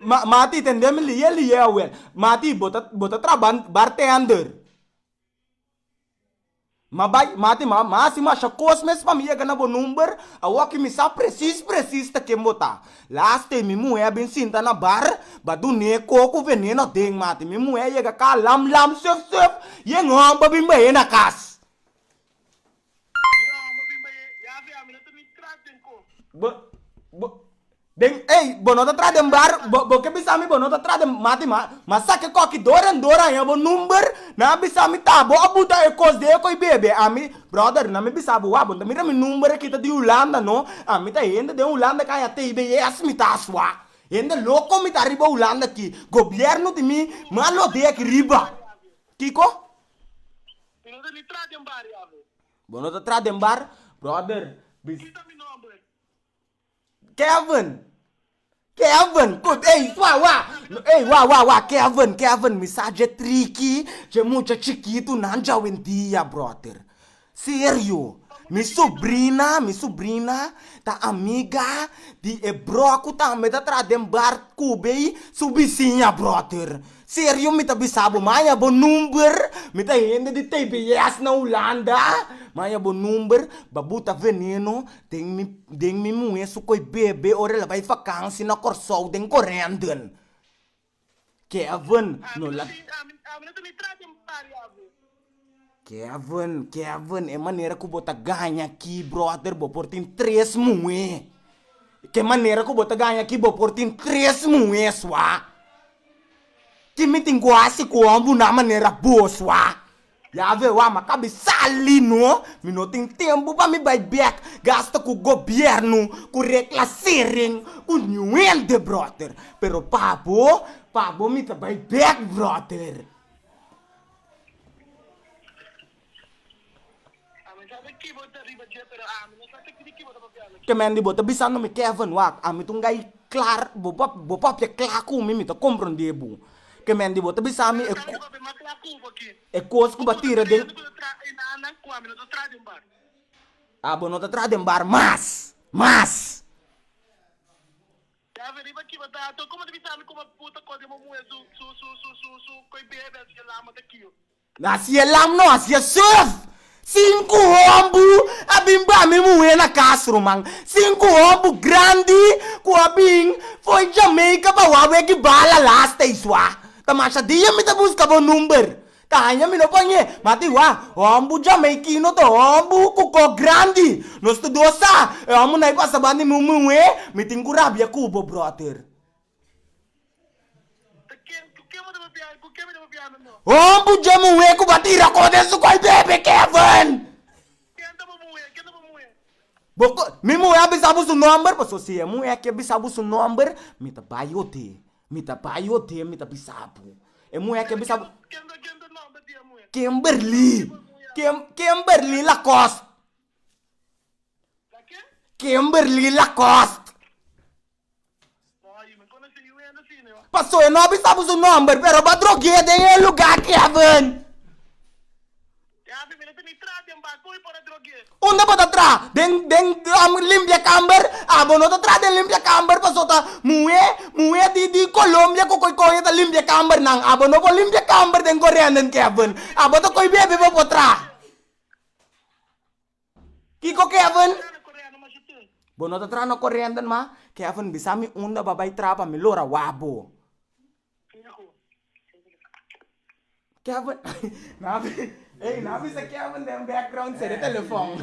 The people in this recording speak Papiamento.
Ma, mati, tende mi liye liye awel. Mati, bo ta, bo ta traba bartender. Ma bai, mati, ma, ma hasi masha kos mes pa mi yega na bo number, awo ki mi sa presis presis ta ken bo ta. Las te mi muhé a bin sinta na bar, ba dun'é ko ku veneno aden, mati. Mi muhé a yega ka lam lam suf suf, yen hòmber a bin bah'é na kas. Mi omba bin bay e yafe ami no ta mi tras den cos. Bo bo den ey bo no ta tras den bar bo bo ke bisa mi bo no ta tras den mati ma ma saki koki dor en dor aña bo number nan a bisa mi ta bo a buta e cos de eko y bebe ami brother nan mi bisa bo wak bo no ta mira mi number a kita di Hulanda no ami ta hende den Hulanda ka aña tey beyes mi ta asua hende loco mi ta riba Hulanda aki gobierno di mi malo deki riba kiko. Mi no ta ni tra den bar ya bo. Bo no ta tra den bar, brother. Ki ta mi nomber? Kevin. Kevin. Kut ey wa wa. Ey wa wa wa Kevin Kevin mi sa dje triki dje mucha chikitu nan dje awendia brother. Serio. Mi subrina mi subrina ta amiga di e bro ku tambe ta tra den bar kube su bisiña brother. Serio mi ta bisa bo maya bo number mi ta hende di tbs na Hulanda maya bo number ba buta veneno den mi den mi muhe su koe bebe ora el a bai vakansi na Kòrsou den Corendon Kevin no la. Kevin, Kevin, e manera ku bo ta gaña aki, bròder, bo por tin tres muhé. Ke manera ku bo ta gaña aki, bo por tin tres muhé sua. Tin mi tin ku hasi ku hòmbunan manera bo sua. Ya ve wak, mi a kabe sali no. Mi no tin tempu pa mi bai bèk gasta ku gobièrnu, ku reklasering, ku niun hende, bròder. Pero pa bo, pa bo mi ta bai bèk, bròder. Ke men di bo ta bisa no mi Kevin wak ami ta un gai klar bo pap bo papia kla ku mi mi ta komprende bo ke men di bo ta bisa mi e kos ku bo a tira den a bo no ta traha den bar mas mas. Davi riba kiba ta ato, Como ta bisa mi como bu ta code mo muhe su, su, su, su, su, su coi bebe su e lama ta kio? Na si e lam no haci e surf. Sinku hon bu a bin bra mi muhe na cas ruman. Sinku hon bu grandi cu a bin fo'i Jamaica pa wak weki bala last days wa. Ta masha dia mi ta busca bo number. Ta haña mi no pañ'é, ma tin wak, hòmbu jamaikino ta hòmbu ku kòk grandi. Nos ta dos sa, e hòmbu nai pasa banda mi un muhé, mi tin ku rabia ku bo, bròter. Ta ken, ku ke bo ta papiá, ku ke mi ta papiá mi no? Hòmbu dje muhé ku ba tira kos den su kòi bebe, Kevin! Ken ta bo muhé? Ken ta bo muhé? Bo ko, mi muhé a bisa bo su nòmber, pasobra si e muhé a ke bisa bo su nòmber, mi ta bai ote. Mi ta bai hotel mi ta bisa bo. E muhé ken bisa bo. Kimberly Kimberly Lacoste Kimberly Lacoste pasobra e no bisa bo su nomber pero bo a drog'é den e lugar Kevin. Unda bo ta tra? Den den limpia kamber? Ah bo no ta tra den limpia kamber paso ta muhe muhe di di Colombia ku koe kohe ta limpia kamber nan. Ah bo no por limpia kamber den Gorendon Kevin. Ah bo ta koe bebe bo por tra. Kiko Kevin? Bo no ta tra na Corendon mas? Kevin bisa mi unda bo a bai tra pa mi lo ra wak bo. Kevin Nan a bisa Kevin den background se de telefon.